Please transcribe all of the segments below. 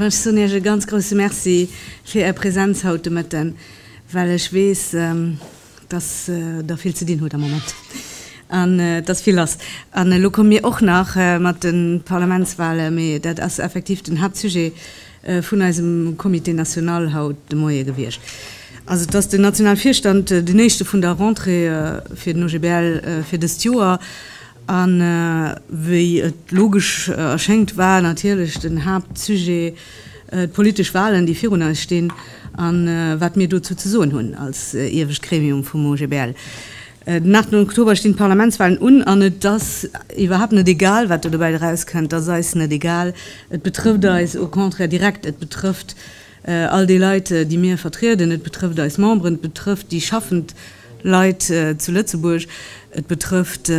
Ech soen Iech e ganz grouse Merci fir Är Präsenz haut de Mëtten, well ech weess, dass Der vill ze dinn hutt am Moment an dass vill ass. An elo komme mir och nach mat de Parlamentswale, mee dat ass effektiv den Haaptsujet vun eisem Comité national haut de Moie gewiescht ass. Et ass den Nationalvirstand, den éischte vun der Rentrée fir den OGBL fir dëst Joer. A wéi et logesch erschéngt, war natierlech den Haaptsujet d'politesch Wahlen, déi virun eis stinn, a wat mir dozou ze soen hunn als iewescht Gremium vum OGBL. Den 8 Oktober stinn d'Parlamentswalen un an et ass iwwerhaapt net egal, wat do dobäi erauskënnt. Et ass eis net egal. Et betrëfft eis au contraire direkt. Et betrëfft all déi Leit, déi mir vertrieden. Et betrëfft eis Memberen. Et betrëfft déi schaffend Leit zu Lëtzebuerg. Et betrëfft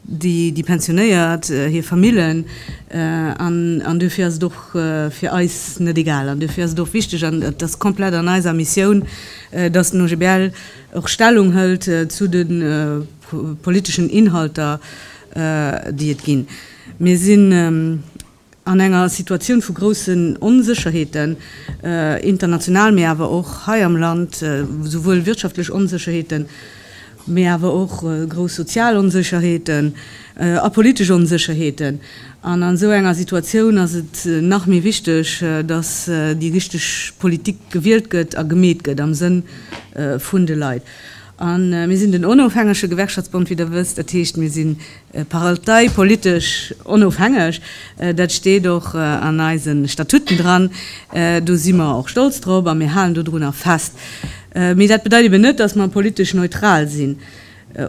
déi Pensionéiert, hir Famillen. An duerfir ass et och fir eis net egal. An duerfir ass et och wichteg an et ass komplett an eiser Missioun, dass den OGBL och Stellung hëlt zu de politeschen Inhalter, déi et ginn. Mir sinn an enger Situatioun vu groussen Onsécherheeten, international, mee awer och hei am Land, souwuel wirtschaftlech Onsécherheeten, mee awer och grouss sozial Onsécherheeten a politesch Onsécherheeten. An an esou enger Situatioun ass et nach méi wichteg, datt déi richteg Politik gewielt gëtt a gemeet gëtt am Sënn vun de Leit. A mir sinn den onofhängege Gewerkschaftsbond, wéi Der wësst. Dat heescht, mir si parteipolitesch onofhängeg. Dat steet och an eise Statuten dran. Do si mer och stolz drop a mir halen dodrunner fest. Mee dat bedeit eben net, datt mer politesch neutral sinn.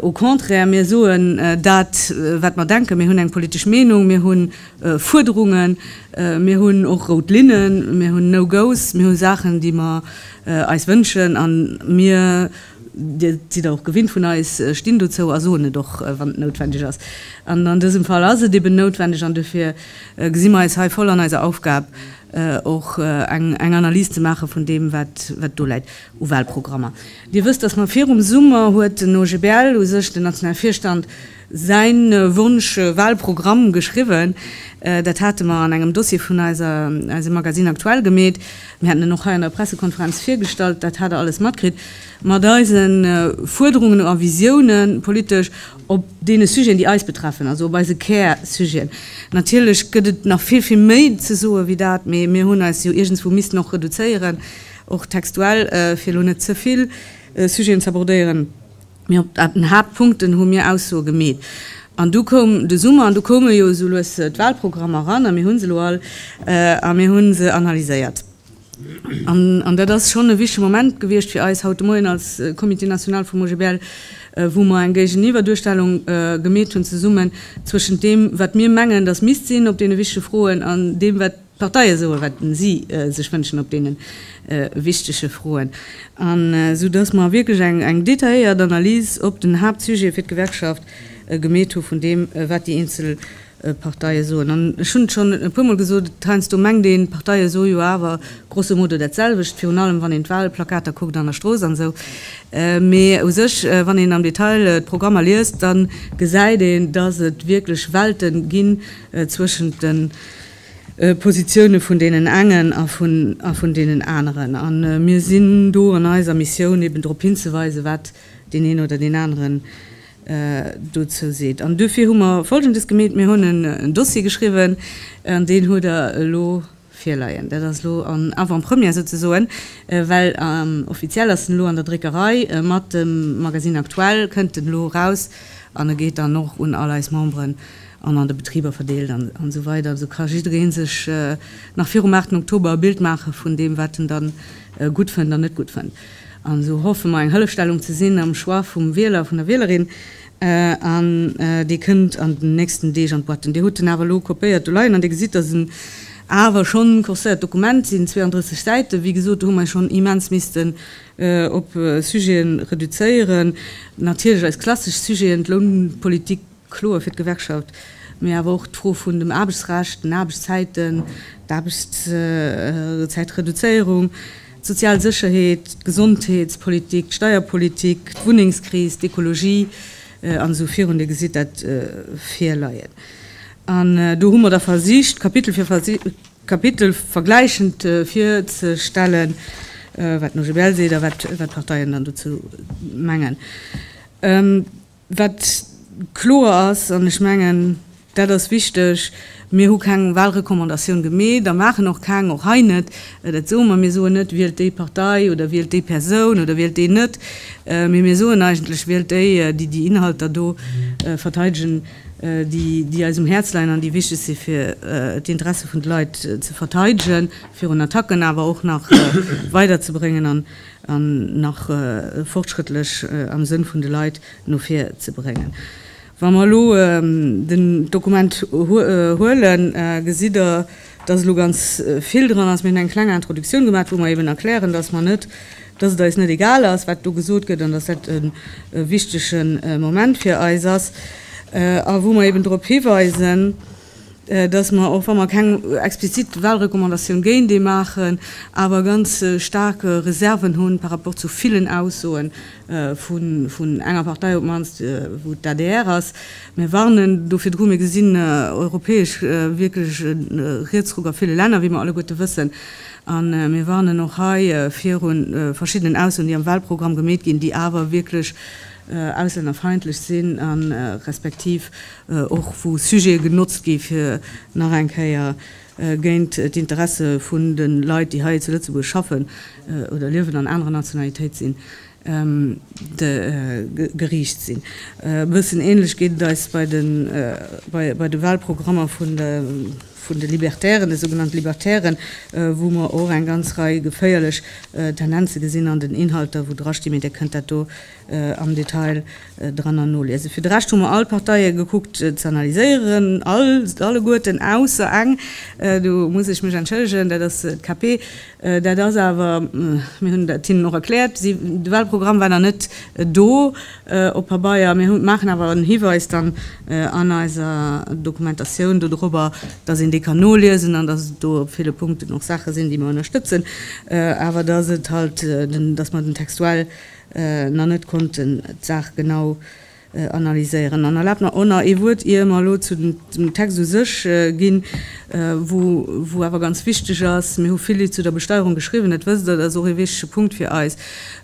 Au contraire, mir soen dat, wat mer denken. Mir hunn eng politesch Meenung, mir hu Fuerderungen, mir hunn och rout Linnen, mir hunn No-Gos, mir hu Saachen, déi mer eis wënschen. A mir, Dir sidd der och gewinnt vun eis, stinn dozou a soen et och, wann et noutwendeg ass. An an dësem Fall ass et eben noutwendeg. An dofir gesi mer eis hei voll an eiser Aufgab, och eng Analys ze maache vun deem, wat do läit u Wahlprogrammer. Dir wësst, dass mer virum Summer, huet den OGBL, u sech den nationale Virstand, säi Wonsch, Wahlprogramm geschriwwen. Dat hate mer an engem Dossier vun eiser, eisem Magazine Aktuell gemeet. Mir hätten en och hei an der Pressekonferenz virgestallt. Dat hat Der alles matkritt. Mat eise Fuerderungen a Visiounen, politesch, op deene Sujeten, déi eis betreffen, also op eise Kärsujeten. Natierlech gëtt et nach vill, vill méi ze soen, wéi dat, mee mir hunn eis jo iergendswou missten och reduzéieren. Och textuell, fir elo net ze vill Sujeten ze abordéieren, mee op den Haaptpunkten hu mir Aussoe gemeet. An du koum de Summer an du koume jo esou lues d'Walprogrammer eran a mir hu se elo all a mir hu se analyséiert. An dat ass schonn e wichtege Moment gewiescht fir eis haut de Moien als Comité national vum OGBL, wou mer eng Géigeniwwerduerstellung gemeet hunn zesummen zwëschent deem, wat mir mengen, datt misst sinn op deene wichtege Froen an deem, wat. D'Parteie soe wat si sech wënschen op deene wichtege Froen, an esou datt mer wierklech eng detailléiert Analys op den Haaptsujet fir d'Gewerkschaft gemeet hu vun deem wat déi eenzel Parteie soen. An ech hunn et schonn e puermol gesot, heiansdo mengt een, d'Parteie soe jo awer grosso modo dat selwecht, virun allem wann een d'Wahlplakater kuckt an der Strooss an esou. Mee u sech, wann een am Detail d'Programmer liest, da gesäit een, datt et wierklech Welte ginn zwëschent de. Positioune vun deenen engen a vun deenen aneren. A mir sinn do an eiser Missioun, eben drop hinzeweisen, wat deen een oder deen anere dozou seet. An duerfir hu mer Folgendes gemeet, Mir hunn en Dossier geschriwwen, an deen hutt Der elo virleien. Dat ass elo en Avant-première souzesoen, well offiziell ass en elo an der Dréckerei. Mat dem Magazine Aktuell kënnt en elo eraus an e geet dann och un all eis Memberen an an de Betriber verdeelt an esou weider, esou ka jidderee sech nach virum 8 Oktober e Bild maache vun deem, wat en da gutt fënnt an net gutt fënnt. An esou hoffe mer, eng Hëllefstellung ze sinn am Choix vum Wieler, vun der Wielerin, an dee kënnt an den nächsten Deeg an d'Boîtten. Dir hutt en awer elo kopéiert do leien an Dir gesitt, dass en awer schonn en corseiert Dokument sinn, 32 Säiten. Wéi gesot, do hu mer schonn immens missten op Sujete reduzéieren. Natierlech eis klassesch Sujeten, d'Lounpolitik, Kloer fir d'Gewerkschaft, mee awer och d'Fro vun dem Aarbechtsrecht, den Aarbechtszäiten, d'Aarbechtszäitreduzéierung, d'sozial Sécherheet, d'Gesondheetspolitik, d'Steierpolitik, d'Wunnengskris, d'Ekologie an esou virun. Dir gesitt dat virleien. An do hu mer da versicht, Kapitel fir Kapitel vergläichend virzestellen, wat den OGBL seet a wat d'Parteien dann dozou mengen. Wat kloer ass, an ech mengen, dat ass wichteg, Mir hu keng Wahlrecommandatioun gemeet a maachen och keng, och hei net. Dat soe mer. Mir soen net, wielt déi Partei oder wielt déi Persoun oder wielt deen net, mee mir soen eigentlech, wielt déi, déi déi Inhalter do verteidegen, déi eis um Häerz leien an déi wichteg si fir d'Interesse vun de Leit ze verteidegen, virun Attacken awer och nach weiderzebréngen. an nach fortschrëttlech am Sënn vun de Leit no vir ze bréngen. Wa mer elo den Dokument huelen, gesitt Der, dass elo ganz vill dran ass. Mir hunn eng kleng Introductioun gemaat, wou mer eben erklären, dass mer net, dass et eis net egal ass, wat do gesot gëtt, an dass dat e wichtige Moment fir eis ass, a wou mer eben drop hiweisen, dass mer, och wa mer keng explizit Wahlrecommandatioun géint ee maachen, awer ganz staark Reserven hunn par rapport zu villen Aussoen vun enger Partei, op d'mannst wou d'ADR ass. Mir warnen do virdru. Mir gesinn europäesch wierklech e Rietsruck a ville Länner, wéi mer alleguerte wëssen. A mir warnen och hei virun verschiddenen Aussoen, déi am Wahlprogramm gemeet ginn, déi awer wierklech auslännerfeindlech sinn a respektiv och wou Sujete genotzt gi fir nach eng Kéier géint d'Interesse vun de Leit, déi hei zu Lëtzebuerg schaffen oder liewen an anerer Nationalitéit sinn, geriicht sinn. E bëssen änlech geet et eis bei de Wahlprogrammer vun de Libertären, de sougenannte Libertären, wou mer och eng ganz Rei geféierlech Tendenze gesinn an den Inhalter, wou drastimme. Dir kënnt dat do am Detail dranner noliesen. Fir de Rescht hu mer all d'Parteie gekuckt ze analyséieren, all, alleguerten ausser eng, do muss ech mech entschëllegen, dat ass d'KP. Dat ass awer, mir hunn dat hinnen och erkläert, si, de Wahlprogramm war nach net do op Pabeier. Mir hu, maachen awer en Hiweis dann an eiser Dokumentatioun dodrobber, dass een dee kann noliesen an dass et do op ville Punkten och Saache sinn, déi mer ënnerstëtzen, awer dass et halt, dass mer den textuell, nach net konnten d'Saach genau analyséieren. An erlaabt mer och nach ee Wuert, ier mer elo zu dem Text u sech ginn, wou awer ganz wichteg ass, mir hu vill zu der Besteierung geschriwwen, dat wësst Der, dat ass och ee wichtige Punkt fir eis.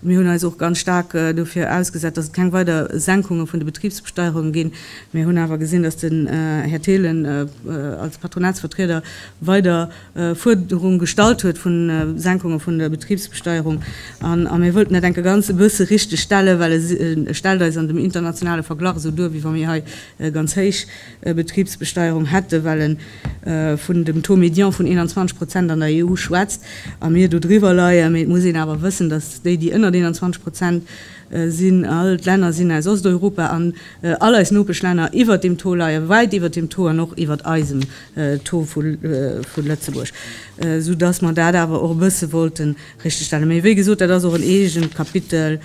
Mir hunn eis och ganz staark dofir ausgesat, dass et keng weider Senkunge vun de Betribsbesteierungen ginn. Mir hunn awer gesinn, dass den Här Thelen als Patronatsvertrieder weider, Fuerderung gestallt huet vu Senkunge vun der Betribsbesteierung. A mir wollten dat enke ganze bësse richteg stellen, well e stellt eis an dem internationale Verglach esou duer, wéi wa mir hei e ganz héich Betribsbesteierung hätten, well e vun dem Taux médian vun 21 Prozent an der EU schwätzt a mir do driwwer leien. Mee et muss een awer wëssen, datt déi, déi ënnert 21 Prozent sinn, all d'Länner sinn aus Osteuropa an all eis Nopeschlänner iwwert deem Taux leien, wäit iwwert deem Taux an och iwwert eisem Tour vu Lëtzebuerg, sou dass mer dat awer och e bësse wollte richtegstellen. Mee wéi gesot, dat ass och en eegent Kapitel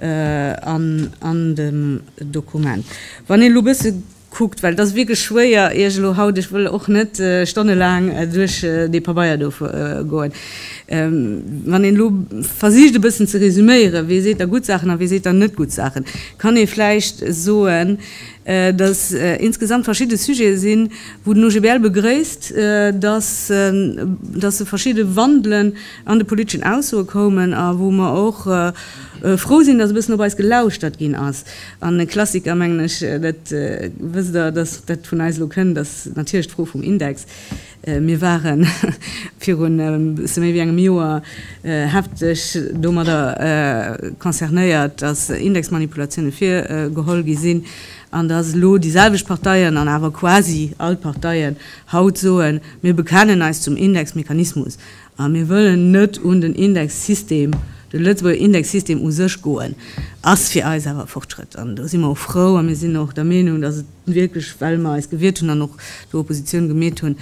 an dem Dokument. Wann een elo e bësse kuckt, well et ass wierklech schwéier, Iech elo haut, ech wëll och net stonnelaang duerch dee Pabeier do goen, wann een elo versicht e bëssen ze resüméieren, wee seet da gutt Saachen a wee seet da net gutt Saachen, kann ee vläicht soen, dass insgesamt verschidde Sujete sinn, wou den OGBL begréisst, dass se verschidde Wandelen an de politeschen Aussoe koumen a wou mer och frou sinn, dass e bëssen op eis gelauschtert ginn ass. An e Klassiker, mengen ech, dat wësst Der, dass dat vun eis elo kënn, ass natierlech d'Fro vum Index. Mir ware virun e bësse méi wéi engem Joer hefteg domadder concernéiert, datt Indexmanipulatiounen virgeholl gi sinn, an datt elo déi selwecht Parteien, an awer quasi all d'Parteien, haut soen, Mir bekennen eis zum Indexmechanismus. A mir wëllen net un den Indexsystem, de Lëtzebuerger Indexsystem u sech goen, ass fir eis awer e Fortschrëtt. An do si mer och frou a mir sinn och der Meenung, dass et wierklech, well mer eis gewiert hunn an och do Oppositioun gemeet hunn,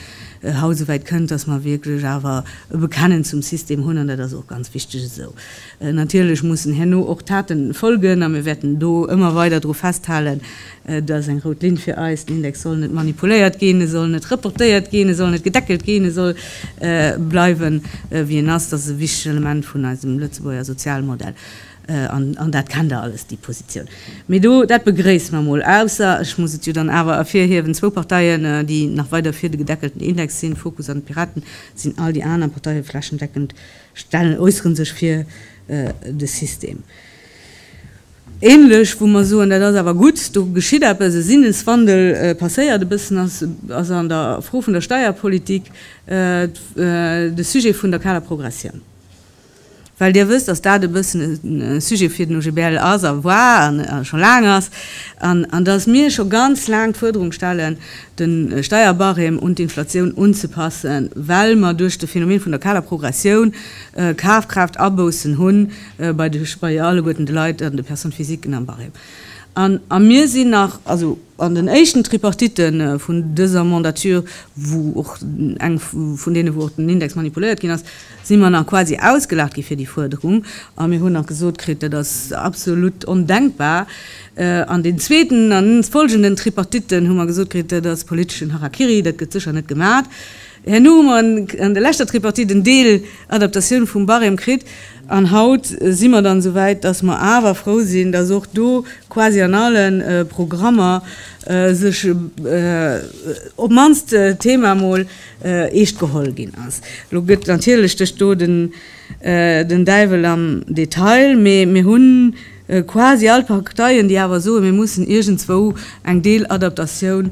haut esouwäit kënnt, dass mer wierklech awer e Bekennen zum System hunn, an dat ass och ganz wichteg esou. Natierlech mussen herno och Taten folgen, a mir wäerten do ëmmer weider dru festhalen. Et ass eng rout Linn fir eis, den Index soll net manipuléiert ginn, e soll net reportéiert ginn, e soll net gedeckelt ginn, e soll bleiwen, wéi en ass. Dat ass e wichtegt Element vun eisem Lëtzebuerger Sozialmodell, an dat kennt Der alles, déi Positioun. Mee do, dat begréisse mer emol, ausser, ech muss et jo dann awer ervirhiewen, zwou Parteien, déi nach weider fir de gedeckelten Index sinn, Fokus an d'Piraten, sinn all déi aner Parteie flächendeckend Stellen äusseren sech fir de System. Ähnlech, wou mer soen, dat ass awer gutt, do geschitt eppes, e Sinneswandel passéiert e bëssen, ass an der Fro vun der Steierpolitik de Sujet vun der Kaler Progressioun. Well Dir wësst, dass dat e bëssen e Sujet fir den OGBL ass a war a scho laang ass, an dass mir scho ganz laang d'Fuerderung stellen, de Steierbarème un d'Inflatioun unzepassen, well mer duerch de Phänomen vun der kaler Progressioun Kafkraaftarboussen hu bei alleguerten de Leit an de Personnes physiquen am Barème. An a mir sinn nach. Also an den éischten Tripartite vun dëser Mandature, wou och eng vun deene wou och den Index manipuléiert ginn ass, si mer nach quasi ausgelaacht gi fir déi Fuerderung a mir hunn nach gesot kritt, dat ass absolut ondenkbar. An den zweeten an folgenden Tripartitten hu mer gesot kritt, dat ass politeschen Harakiri, dat gëtt sécher net gemat. Herno hu mer an der leschter Tripartite en Deel Adaptatioun vum Barème kritt an haut si mer dann esouwäit, dass mer awer frou sinn, dass och do quasi an alle Programmer sech op d'mannst d'Thema emol Eescht geholl ginn ass. Elo gëtt natierlech duerch do den Däiwel am Detail, mee mir hunn quasi all d'Parteien, déi awer soen, mir mussen iergendzwou eng Deeladaptatioun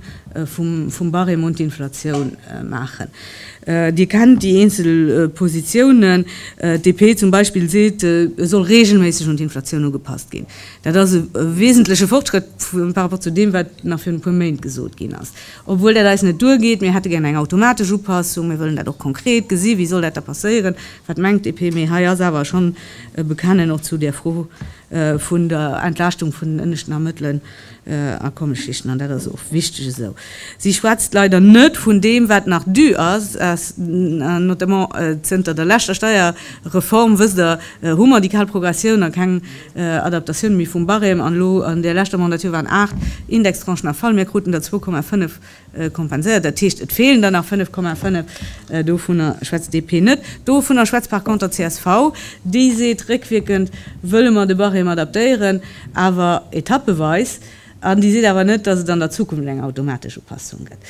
vum Barème un d'Inflatioun maachen. Dir kennt déi eenzel Positiounen. D'DP zum Beispill seet, e soll reegelméisseg un d'Inflatioun ugepasst ginn. Dat ass e wesentleche Fortschrëtt par rapport zu deem, wat nach virun e puer Méint gesot ginn ass. Obwuel dat eis net duergeet. Mir hätte gären eng automatesch Upassung. Mir wëllen dat och konkret gesi. Wéi soll dat da passéieren? Wat mengt d'DP? Mee hei ass awer schonn e Bekennen och zu där Fro vun der Entlaaschtung vun den ënneschten a mëttelen Akommesschichten. An dat ass och wichteg esou. Si schwätzt leider net vun deem, wat nach dû ass. Notamment zënter der leschter Steierreform, wësst Der, hu mer déi kal Progressioun a keng Adaptatioun méi vum Barème, an elo an där leschter Mandatur waren 8 Indextranchen a Fall, mir kruten der 2,5 kompenséiert. Dat heescht, et feelen der nach 5,5, dovunner schwätzt DP net. Dovunner schwätzt par conter csv, déi seet, réckwierkend wëlle mer de Barème adaptéieren, awer etappeweis, an déi seet awer net, datt et an der Zukunft eng automatesch Upassung gëtt.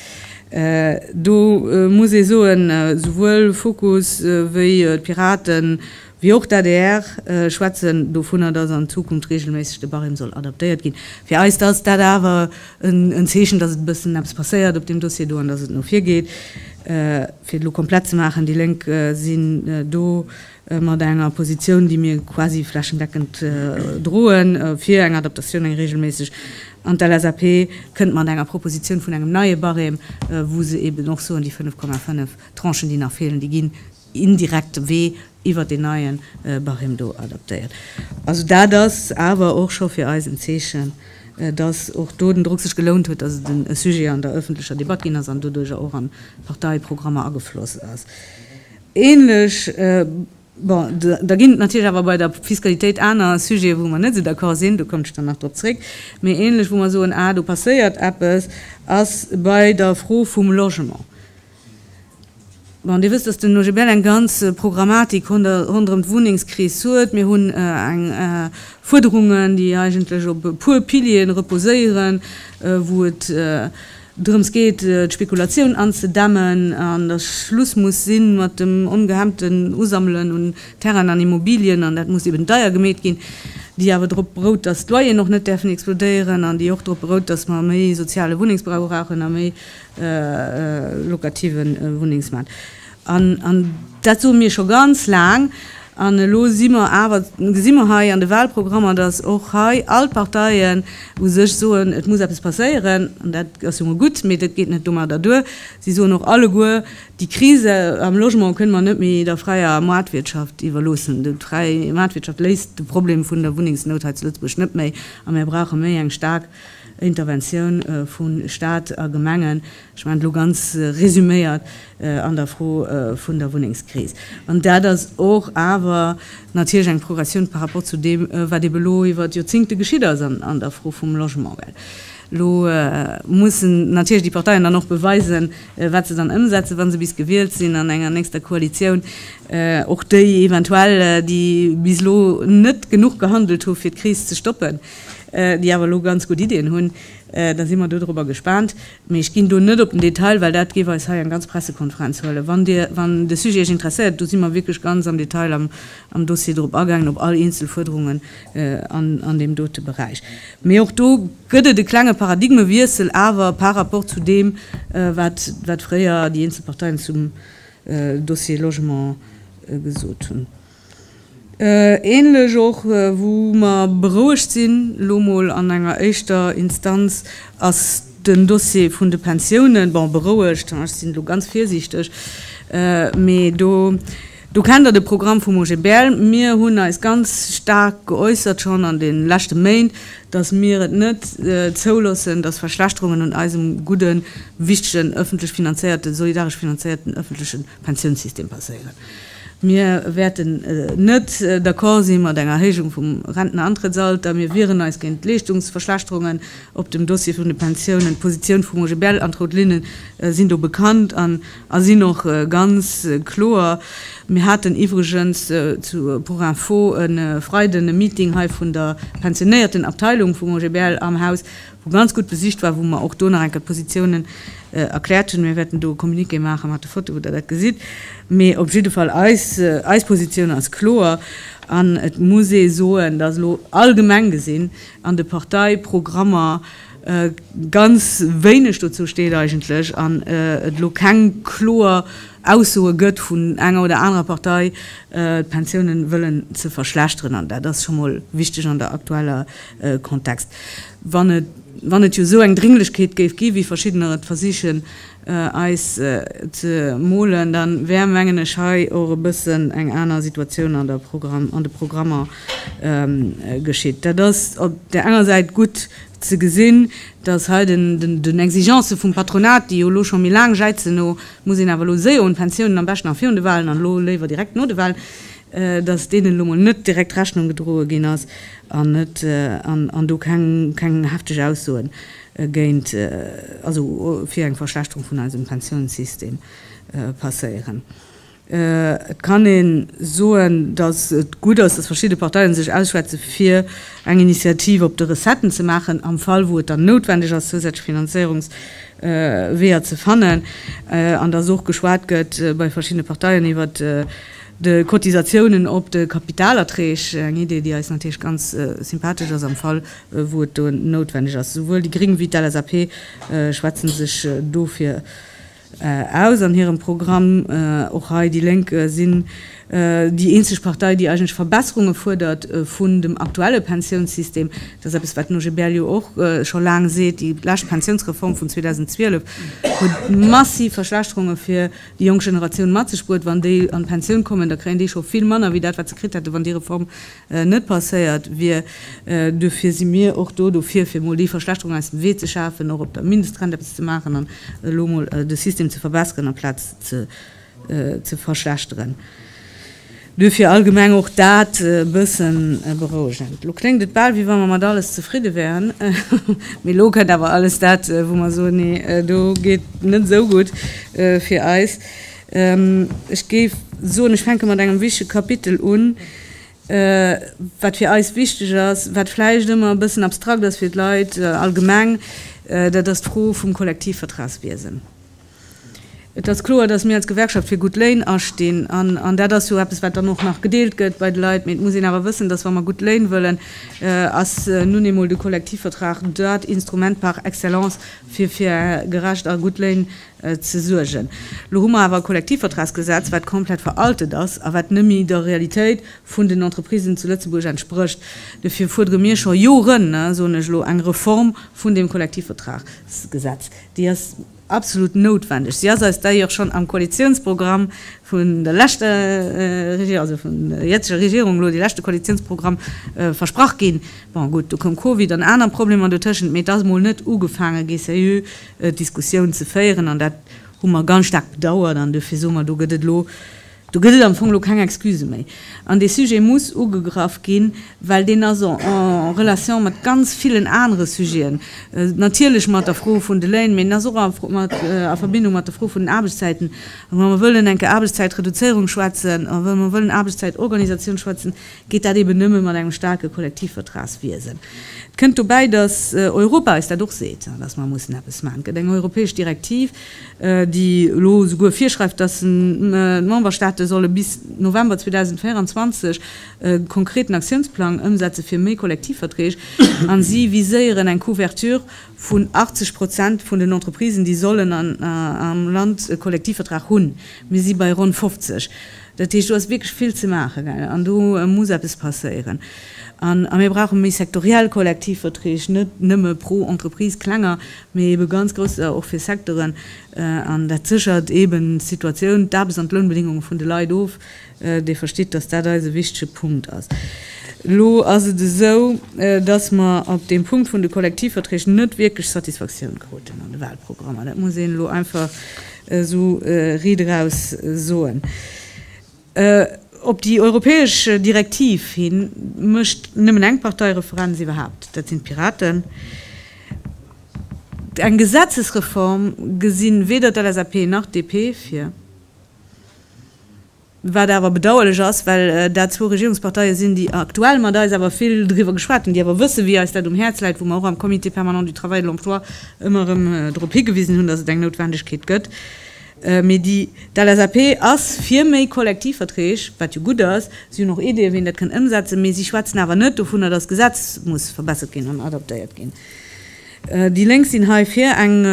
Do muss ee soen, souwuel Fokus wéi d'Piraten Wéi och d'ADR schwätzen dovunner, dass an Zukunft reegelméisseg de Barème soll adaptéiert ginn. Fir eis ass dat awer en Zeechen, dass et e bëssen eppes passéiert op deem Dossier do an dass et no vir geet. Fir et elo komplett ze maachen, déi Lénk sinn do mat enger Positioun, déi mir quasi flächendeckend droen, fir eng Adaptatioun, eng reegelméisseg. An d'LSAP kënnt mat enger Propositioun vun engem neie Barème, wou se eeben och soen, déi 5,5 Tranchen, déi nach feelen, déi ginn indirekte Wee iwwer deen neie Barème do adaptéiert. Also dat ass awer och scho fir eis en Zeechen, dass och do den Drock sech gelount huet, dass et e Sujet an der öffentlecher Debatt ginn ass an doduerjer och an d'Parteiprogrammer agefloss ass. Ähnlech, bon, da ginn et natierlech awer bei der Fiskalitéit aner Sujete wou mer net esou d'accord sinn, do kommen ech dann nach drop zréck, mee ähnlech wou mer soen, ah do passéiert eppes, ass bei der Fro vum Logement. Bon, Dir wësst, datt den OGBL eng ganz Programmatik ronderëm d'Wunnengskris huet. Mir hunn eng Fuerderungen, déi eigentlech op e puer Piliere reposéieren, wou et drëms geet, d'Spekulatioun anzedämmen an datt Schluss muss si mat dem ongehemmten Usammelen un Terrainen an Immobilien. An dat muss eben deier gemeet ginn, déi awer drop berout, datt d'Loyeren och net däerfen explodéieren an déi och drop berout, datt mer méi soziale Wunnengsbau brauchen a méi lokativen Wunnengsmaart. An dat soe mir scho ganz laang. An elo si mer awer, gesi mer hei an de Wahlprogrammer, datt och hei all d'Parteien u sech soen, et muss eppes passéieren. An dat ass jo mol gutt, mee dat geet net domadder duer. Si soen och alleguer, déi Krise am Logement kënne mer net méi der fräier Maartwirtschaft iwwerloossen. Déi fräi Maartwirtschaft léist de Problem vun der Wunnengsnout hei zu Lëtzebuerg net méi. A mir brauche méi eng staark Interventioun vu Staat a Gemengen, ech mengen elo ganz resuméiert, an der Fro vun der Wunnengskris. An dat ass och awer natierlech eng Progressioun par rapport zu deem, wat ebe elo iwwert Joerzingte geschitt ass an der Fro vum Logement. Well elo mussen natierlech déi Parteien dann och beweisen, wat se dann ëmsetzen, wa se bis gewielt sinn an enger nächster Koalitioun, och déi eventuell, déi bis elo net genuch gehandelt hu fir d'Kris ze stoppen. déi awer elo ganz gutt Iddien hunn, da si mer dodrobber gespaant. Mee ech ginn do net op den Detail, well dat géif eis hei eng ganz Pressekonferenz huelen. Wann Dir, wann de Sujet Iech interesséiert, do si mer wierklech ganz am Detail am, am Dossier drop agaangen, op all eenzel Fuerderungen an, an deem dote Beräich. Mee och do gëtt et e klenge Paradigmewiessel awer par rapport zu deem, wat, wat fréier déi eenzel Parteien zum Dossier Logement gesot hunn. Ähnlech och, wou mer berouegt sinn, elo mol an enger éischter Instanz, ass den Dossier vun de Pensiounen. Bon, berouegt, ech sinn elo ganz virsiichteg, mee do, do kennt Der de Programm vum OGBL. Mir hunn eis ganz staark geäussert schonn an de leschte Méint, dass mir et net zouloossen, dass Verschlechterungen un eisem gudde wichtegen öffentlech finanzéierten, solidaresch finanzéierten öffentleche Pensiounssystem passéieren. Mir wäerten net d'accord si mat enger Erhéijung vum Rentenantrëttsalter. Mir wieren eis géint d'Leeschtungsverschlechterungen op dem Dossier vun de Pensiounen. D'Positioun vum OGBL an d'rout Linnen sinn do bekannt an sinn och ganz kloer. Mir haten iwwregens pour info e Freiden e Meeting hei vun der pensionéierten Abteilung vum OGBL am Haus, wou ganz gutt besicht war, wou mer och do nach eng Kéier d'Positiounen erkläert hunn. Mir wäerten do e Communiqué maache mat de Fotoe wou Der dat gesitt. Mee op jidde Fall, eis, eis Positioun ass kloer an et muss ee soen, datt elo allgemeng gesinn an de Parteiprogrammer ganz wéineg dozou steet eigentlech an et elo keng kloer Aussoe gëtt vun enger oder anerer Partei, d'Pensiounen wëllen ze verschlechteren. An dat ass scho mol wichteg an der aktueller Kontext, wann et wann et jo esou eng Dringlechkeet géif ginn, wéi verschiddener et versichen eis ze molen, da wär mengen ech hei och e bëssen eng aner Situatioun an der Programm an de Programmer geschitt. Dat ass op där enger Säit gutt ze gesinn, datt hei den den Exigencë vum Patronat, déi jo elo scho méi laang jäizen no, muss een awer elo séier un d'Pensiounen, am beschten nach virun de Wahlen an elo léiwer direkt no de Wahlen, dass deenen elo mol net direkt Rechnung gedroe ginn ass an net an do keng hefteg Aussoe géint, also fir eng Verschlechterung vun eisem Pensiounssystem passéieren. Et kann ee soen, dass et gutt ass, dass verschidde Parteien sech ausschwätze fir eng Initiativ op de Recetten ze maachen, am Fall wou et dann noutwendeg ass zousätzlech Finanzéierungsweeër ze fannen, an dass och geschwat gëtt bei verschiddene Parteien iwwert De Cotisatiounen op de Kapitalerträg, eng Idee, déi eis natierlech ganz sympathesch ass, am Fall wou et do noutwendeg ass. Souwuel déi Gring wéi d'LSAP schwätze sech dofir aus an hirem Programm. Och hei, déi Lénk sinn déi eenzeg Partei, déi eigentlech Verbesserunge fuerdert vun dem aktuelle Pensiounssystem. Dat ass eppes, wat den OGBL jo och scho laang seet. Déi lescht Pensiounsreform vun 2012 huet massiv Verschlechterunge fir déi jonk Generatioun mat sech bruet. Wann déi an d'Pensioun kommen, da kréien déi scho vill manner wéi dat, wat se kritt hätten, wann déi Reform net passéiert wier. Duerfir si mir och do dofir, fir emol déi Verschlechterung aus dem Wee ze schafen, och op der Mindestrent eppes ze maachen an elo emol de System ze verbesseren amplaz ze verschlechteren. Duerfir allgemeng och dat e bësse berouegend. Elo kléngt et bal, wéi wa mer mat alles zefridde wären. Mee elo kënnt awer alles dat, wou mer soen, nee, do geet net esou gutt fir eis. Ech géif soen, ech fänke mat engem wichtege Kapitel un, wat fir eis wichteg ass, wat vläicht ëmmer e bëssen abstrakt ass fir d'Leit allgemeng, dat ass d'Fro vum Kollektivvertragswiesen. Et ass kloer, dass mir als Gewerkschaft fir gutt Léin astinn. An an dat ass jo eppes, wat dann och nach gedeelt gëtt bei de Leit. Mee et muss een awer wëssen, dass, wa mer gutt Léin wëllen, ass nun eemol de Kollektivvertrag dat Instrument par excellence, fir fir gerecht a gutt Léin ze suergen. Elo hu mer awer e Kollektivvertragsgesetz, wat komplett veraltet ass a wat nëmmi der Realitéit vun den Entreprisen zu Lëtzebuerg entsprécht. Dofir fuerdere mir scho Joren, soen ech elo, eng Reform vun deem Kollektivvertragsgesetz. Déi ass. absolut noutwendeg. Si ass eis d'ailleurs schonn am Koalitionsprogramm vun der leschter Regierung, also vun der jetziger Regierung elo, dee leschte Koalitionsprogramm, versprach ginn. Bon, gutt, du koum Covid an aner Problemer dotëschent, mee et ass emol net ugefaange gi seriö Diskussioun ze féieren an dat hu mer ganz staark bedauert an dofir soe mer, do gëtt et elo, Do gëtt et am Fong elo keng Excuse méi. An dee Sujet muss ugegraff ginn, well deen ass en relation mat ganz villen anere Sujeten. Natierlech mat der Fro vun de Léin, mä en ass och a Verbindung mat der Fro vun den Aarbechtszäiten. A wa mer wëllen eng Aarbechtszäitreduzéierung schwätzen a wa mer wëllen Aarbechtszäitorganisatioun schwätzen, geet dat eben nëmme mat engem staarke Kollektivvertragswiesen. Et kënnt dobäi, datt Europa eis dat och seet, datt mer mussen eppes maachen. Et gëtt eng europäesch Direktiv, déi elo souguer virschreift, datt d'Memberstaate solle bis November 2024 e konkreten Aktiounsplang ëmsetze fir méi Kollektivverträg, a si viséieren eng Couverture vun 80 Prozent vun den Entreprisen, déi sollen am Land e Kollektivvertrag hunn. Mir si bei ronn 50. Dat heescht, do ass wierklech vill ze maachen, gell, an do muss eppes passéieren. A mir brauche méi sektoriell Kollektivverträg, net nëmme pro Entreprise, klenger, mee ebe ganz grouss, och fir Secteuren. An dat séchert eeben d'Situatioun, d'Aarbechts an d'Lounbedéngunge vun de Leit of. Dir verstitt, dass dat eis e wichtege Punkt ass. Elo ass et esou, dass mer op deem Punkt vun de Kollektivverträg net wierklech Satisfaktioun kruten an de Wahlprogrammer. Dat muss een elo einfach. esou Ried eraus soen. Op déi europäesch Direktiv hi mécht nëmmen eng Partei Referenz iwwerhaapt, dat sinn d'Piraten. Eng Gesetzesreform gesinn weder d'LSAP nach d'DP vir. Wat awer bedauerlech ass, well dat zwou Regierungsparteie sinn, déi aktuell mat eis awer vill driwwer geschwat hunn, déi awer wëssen, wéi eis dat um Häerz läit, wou mer och am Comité permanent du travail et de l'emploi ëmmer erëm drop higewisen hunn, dass et eng Noutwendegkeet gëtt, mee déi d'LSAP ass fir méi Kollektivverträg, wat jo gutt ass, si hunn och Ideeë, wéi een dat kënnt ëmsetzen, mee si schwätzen awer net dovunner, dass d'Gesetz muss verbessert ginn an adaptéiert ginn. Déi Lénk sinn hei fir eng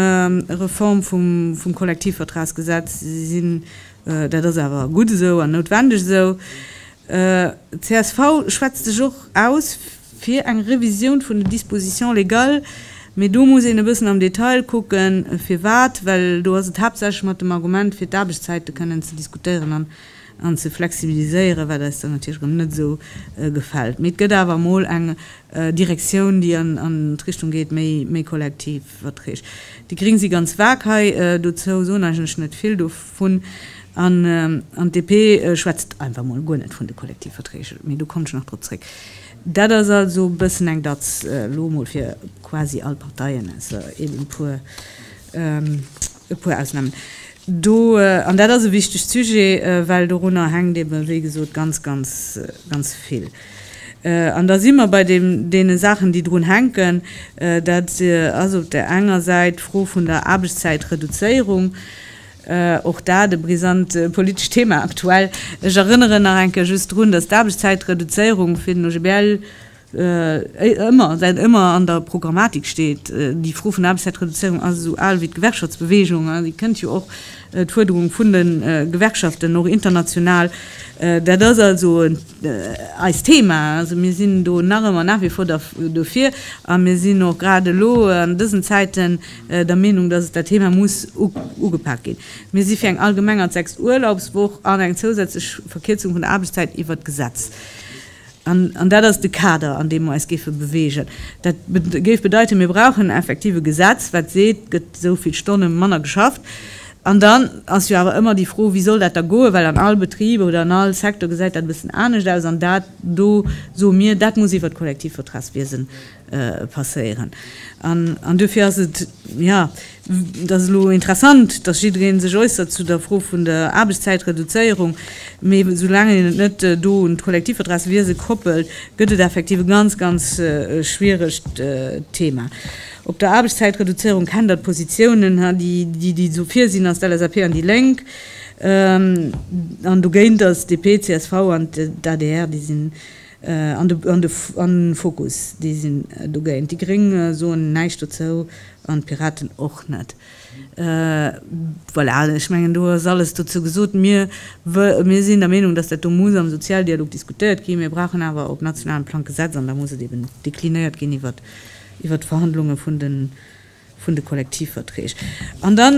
Reform vum Kollektivvertragsgesetz. Si sinn Dat ass awer gutt esou an noutwendeg esou. Csv schwätzt sech och aus fir eng Revisioun vun den Dispositions légales, mee do muss een e bëssen am Detail kucken, firwat. Well do ass et haaptsächlech mat dem Argument, fir d'Aarbechtszäite kënnen ze diskutéieren an ze flexibiliséieren, wat eis dann natierlech erëm net esou gefält. Mee et gëtt awer emol eng Direktioun, déi an d'Richtung geet, méi kollektiv. Verträg. Déi Gring si ganz vag hei. Dozou soen eigentlech net vill dovun. An d'DP schwätzt einfach mol guer net vun de Kollektivverträg. Mee do kommen ech nach drop zréck. Dat ass also e bëssen eng Datz, elo emol fir quasi all Parteien, ausser eeben e puer. E puer Ausnahmen do, an dat ass e wichtegt Sujet, well dorunner hänkt eeben, wéi gesot, ganz, ganz, ganz vill. An da si mer bei deem, deene Saachen, déi drun hänken. Dat ass op där enger Säit d'Fro vun der Aarbechtszäitreduzéierung, och dat e brisant politescht Thema aktuell. Ech erënneren nach eng Kéier just drun, dass d'Aarbechtszäitreduzéierung fir den OGBL Ëmmer, dat ëmmer an der Programmatik steet. Déi Fro vun der Aarbechtszäitreduzéierung ass esou al wéi d'Gewerkschaftsbewegung an déi kënnt jo och, d'Fuerderung vun de Gewerkschaften, och international. Dat ass also eist Thema. Also mir sinn do nach ëmmer nach wie vor dofir a mir sinn och grad elo an dësen Zäiten der Meenung, dass et dat Thema muss ugepak ginn. Mir si fir eng allgemeng an d'sechst Urlaubswoch an eng zousätzlech Verkierzung vun der Aarbechtszäit iwwert d'Gesetz. An dat ass de Kader, an deem mer eis géife beweegen. Dat géif bedeiten, mir brauchen effektiv e Gesetz, wat seet, et gëtt esou vill Stonne manner geschafft. An dann ass jo awer ëmmer déi Fro, wéi soll dat da goen, well an all Betrib oder an all Secteur gesäit dat e bëssen anescht aus. An dat do soe mir, dat muss iwwert d'Kollektivvertragswiesen passéieren. An duerfir ass et, jo, et ass elo interessant, dass jidderee sech äussert zu der Fro vun der Aarbechtszäitreduzéierung, mee soulaang een et net do un d'Kollektivvertragswiese koppelt, gëtt et effektiv e ganz, ganz schwieregt Thema. Op der Aarbechtszäitreduzéierung kennt Der d'Positiounen, déi do virsinn als d'LSAP an déi Lénk. An dogéint ass DP, csv an d'ADR, déi sinn. an de Fokus, déi sinn dogéint. Déi Gréng soen näischt dozou an d'Piraten och net. Voilà, ech mengen, do ass alles dozou gesot. Mir sinn der Meenung, dass dat do muss am Sozialdialog diskutéiert ginn. Mir brauchen awer op nationalem Plang d'Gesetz an da muss et eben deklinéiert ginn iwwert d'Verhandlunge vun de vun de Kollektivverträg. An da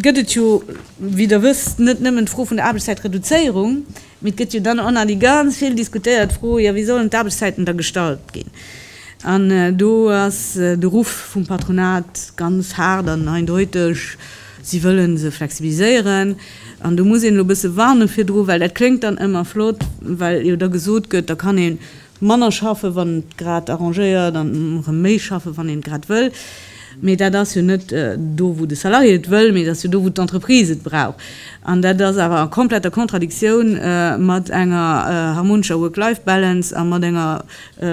gëtt et jo, wéi Der wësst, net nëmmen d'Fro vun der Aarbechtszäitreduzéierung, mee et gëtt jo dann och nach déi ganz vill diskutéiert Fro, jo wéi sollen d'Aarbechtszäiten da gestalt ginn? An do ass de Ruff vum Patronat ganz haart an eindeuteg, si wëlle se flexibiliséieren. An do muss een elo e bësse warne virdru, well dat kléngt dann ëmmer flott, well jo da gesot gëtt, da kann een, Manner schaffen, wann et grad arrangéiert, an erëm méi schaffen, wann een et grad wëll. Mee dat ass jo net do, wou de Salarié et wëll, mee et ass jo do, wou d'Entreprise et brauch. An dat ass awer a kompletter Kontradiktioun mat enger harmonescher Work-Life-Balance a mat enger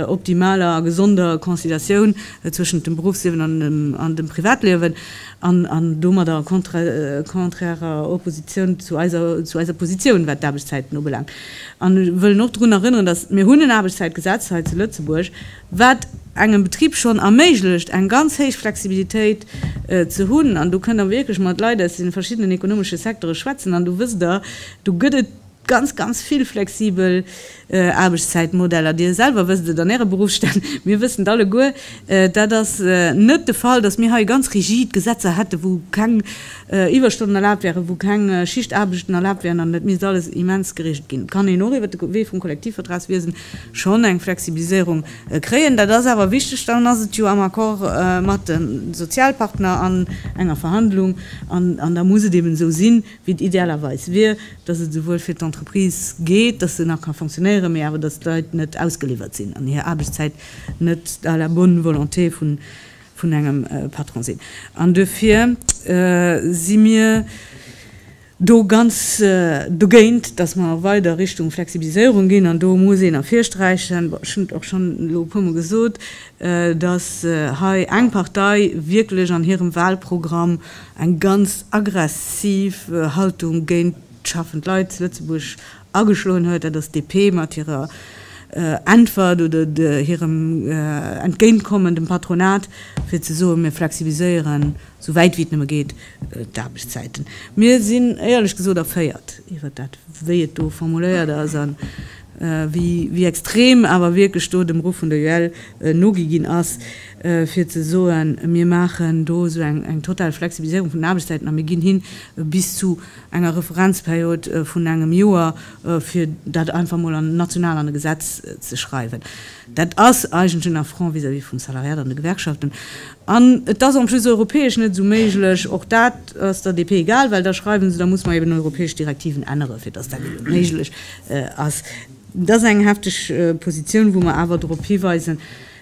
optimaler a gesonder Conciliatioun zwëschent dem Beruffsliewen an dem Privatliewen an domadder a konträrer Oppositioun zu eiser Positioun, wat d'Aarbechtszäiten ubelaangt. An ech wëllen och drun erënneren, dass mir hunn en Aarbechtszäitgesetz hei zu Lëtzebuerg, wat engem Betrib schonn erméiglecht, eng ganz héich Flexibilitéit ze hunn. An do kënnt Der wierklech mat Leit aus de verschiddenen ekonomesche Secteure schwätzen an do wësst Der, do gëtt et ganz, ganz vill flexibel Aarbechtszäitmodeller. Dir selwer wësst et an Äre Beruffsstänn, mir wëssen et alleguer. Dat ass net de Fall, dass mir hei ganz rigid Gesetzer hätten, wou keng Iwwerstonnen erlaabt wären, wou keng Schichtaarbechten erlaabt wären an et misst alles immens gereegelt ginn, kann een och iwwert de Wee vum Kollektivvertragswiesen schonn eng Flexibiliséierung kréien. Dat ass awer wichteg, dann ass et jo am Accord mat de Sozialpartner an enger Verhandlung an da muss et eben esou sinn, wéi et idealerweis wier, dass et esouwuel fir d'Entreprise geet, dass se nach ka fonctionnéieren, mee awer dass d'Leit net ausgeliwwert sinn an hir Aarbechtszäit net à la bonne volonté vun vun engem Patron sinn an duerfir si mir do ganz dogéint, dass mer weider Richtung Flexibiliséierung ginn. An do muss een ervirsträichen, ech hunn et och schonn elo e puermol gesot, dass hei eng Partei wierklech an hirem Wahlprogramm eng ganz aggressiv Haltung géint schaffend Leit zu Lëtzebuerg ageschloen huet, dat ass d'DP mat hirer Äntwert oder hirem Entgéintkommen dem Patronat, fir ze soen, mir flexibiliséieren esou wäit wéi et nëmme geet d'Aarbechtszäiten. Mir sinn éierlech gesot erféiert iwwert dat, wéi et do formuléiert ass a wéi extrem awer wierklech do dem Ruff vun der UEL nogi ginn ass, fir ze soen, mir maachen do esou eng total Flexibiliséierung vun den Aarbechtszäiten a mir ginn hin bis zu, enger Referenzperiod vun engem Joer, fir dat einfach mol an national an e Gesetz ze schreiwen. Dat ass eigentlech en Affront vis-à-vis vum Salariat an de Gewerkschaften. An et ass en plus europäesch net esou méiglech. Och dat ass der DP egal, well da schreiwen se, da muss mer eben europäesch Direktiven änneren, fir dass dat eben méiglech ass. Dat ass eng hefteg Positioun, wou mer awer drop hiweisen,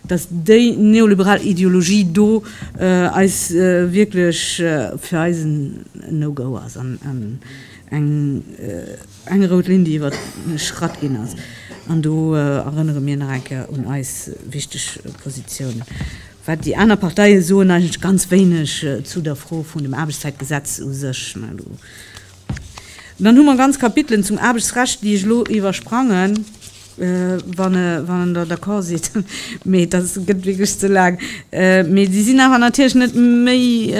dass déi neoliberal Ideologie do eis wierklech fir eis en No-Go ass an eng rout Linn, déi iwwerschratt ginn ass. An do erënnere mir nach eng Kéier un eis wichteg Positioun. Wat déi aner Parteie soen, eigentlech ganz wéineg zu der Fro vun dem Aarbechtszäitgesetz u sech. Dann hu mer ganz Kapitelen zum Aarbechtsrecht, déi ech elo iwwersprangen, wann Der d'accord sidd, mee dat gëtt wierklech ze laang. Mee déi sinn awer natierlech net méi,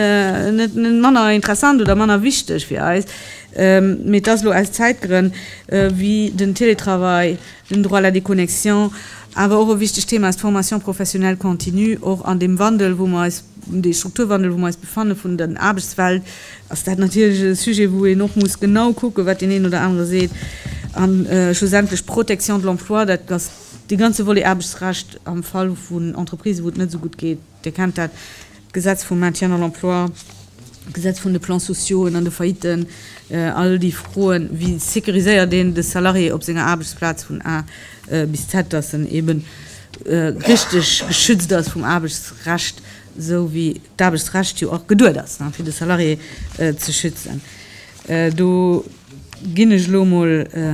net manner interessant oder manner wichteg fir eis. Mee et ass elo aus Zäitgrënn, wéi den Télétravail, den Droit à la déconnexion, awer och e wichtegt Thema ass d'Formation professionnelle continue, och an deem Wandel, wou mer eis, dee Strukturwandel, wou mer eis befanne vun der Aarbechtswelt, ass dat natierlech e Sujet, wou een och muss genau kucken, wat deen een oder anere seet. A schlussendlech d'Protection de l'emploi, dat ass dee ganze Volet Aarbechtsrecht am Fall vun Entreprisen, wou et net esou gutt geet. Dir kennt dat, d'Gesetz vum Maintien dans l'emploi, d'Gesetz vun de Plans sociaux an de Faillitten, all déi Froen, wéi sécuriséiert een de Salarié op senger Aarbechtsplaz vun A bis Z, dass en eeben richteg geschützt ass vum Aarbechtsrecht. esou wéi d'Aarbechtsrecht jo och geduet ass, fir de Salarié ze schützen. Do ginn ech elo emol e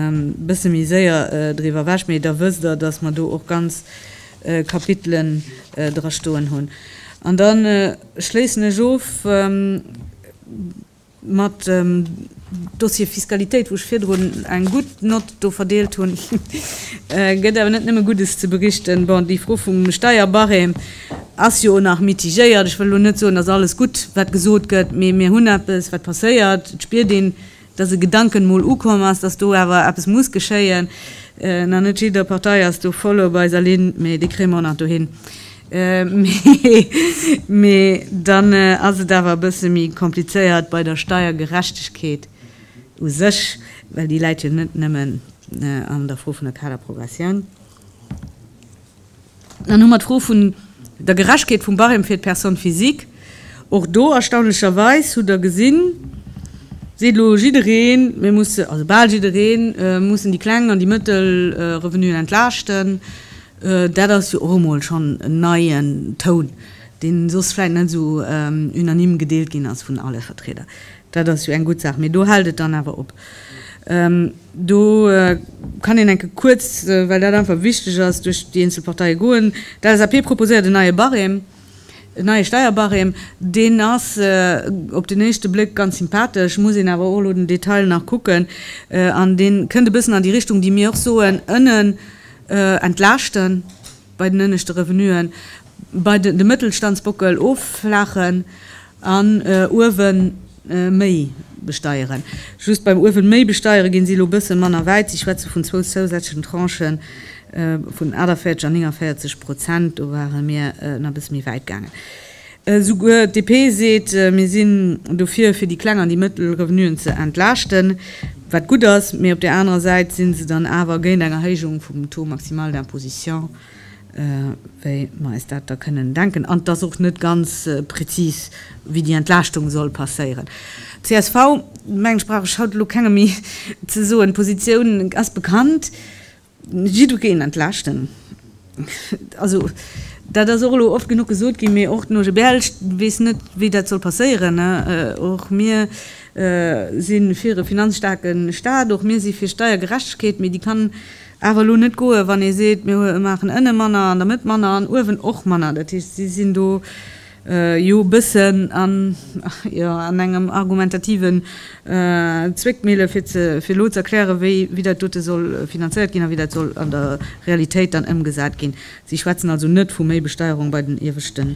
bësse méi séier driwwer ewech, mee da wësst Der, dass mer do och ganz Kapitelen drastoen hunn. An da schléissen ech of. Mat dem Dossier Fiskalitéit, wou ech virdrun eng gutt Nott do verdeelt hunn, gëtt awer net nëmme Guddes ze berichten. Bon, déi Fro vum Steierbarème ass jo nach mitigéiert. Ech wëll elo net soen, dass alles gutt, wat gesot gëtt, mee mir hunn eppes, wat passéiert. Et spiert een, dass e Gedanken emol ukomm ass, dass do awer eppes muss geschéien. Nach net jidder Partei ass do voll op eiser Linn, mee déi kréie mer och nach dohin. Mee dann ass et awer e bësse méi komplizéiert bei der Steiergerechtegkeet u sech, well déi läit jo net nëmmen an der Fro vun der Kaderprogressioun. Dann hu mer d'Fro vun der Gerechtkeet vum Barème fir d'Personne physique. Och do, erstaunlecherweis, hutt Der gesinn, seet elo jiddereen, mir mussen, also bal jiddereen, mussen déi kleng an déi mëttel Revenuen entlaaschten. Dat ass jo och emol schonn en neien Toun, deen soss vläit net esou unanime gedeelt ginn ass vun alle Vertrieder. Dat ass jo eng gutt Saach, mee do hält et dann awer op. Do kann een enke kuerz, well dat einfach wichteg ass, duerch déi eenzel Parteie goen. D'LSAP proposéiert en neie Barème. En neie Steierbarème, deen ass op den éischte Bléck ganz sympathesch, muss een awer och elo den Detail nach kucken. An dee kënnt e bëssen an déi Richtung, déi mir och soen, ënnen entlaaschten, bei den ënneschte Revenuen, bei de Mëttelstandsbockel offlaachen. An Uewen méi besteieren. Just beim Uewen méi besteieren ginn si elo bëssen manner wäit. Si schwätzen vun zwou zousätzlechen Tranchen vun 48 an 49 Prozent. Do ware mir nach bësse méi wäit gaangen. Souguer d'DP seet, Mir sinn dofir fir déi kleng an déi mëttel Revenuen ze entlaaschten. Wat gutt ass. Mee op där anerer Säit sinn se dann awer géint eng Erhéijung vum Taux maximal d'imposition. wéi mer eis dat da kënnen denken, an et ass och net ganz prezis, wéi déi Entlaaschtung soll passéieren. CSV, Mengen ech brauch ech haut elo kengem méi ze soen, d'Positioun ass bekannt, jiddwereen entlaaschten. Also dat ass och elo oft genuch gesot ginn, mee och den OGBL weess net, wéi dat soll passéieren. Och mir si fir e finanzstaarke Staat, och mir si fir Steiergerechtegkeet, mee déi kann Awer elo net goen, wann ee seet, mir maachen ënne manner, an der Mëtt manner an uewen och manner. Dat heescht, si sinn do jo e bëssen an engem argumentativen Zwickmille fir elo ze erklären, wéi dat dote soll finanzéiert ginn a wéi dat soll an der Realitéit dann ëmgesat ginn. Si schwätzen also net vu méi Besteierung bei den ieweschte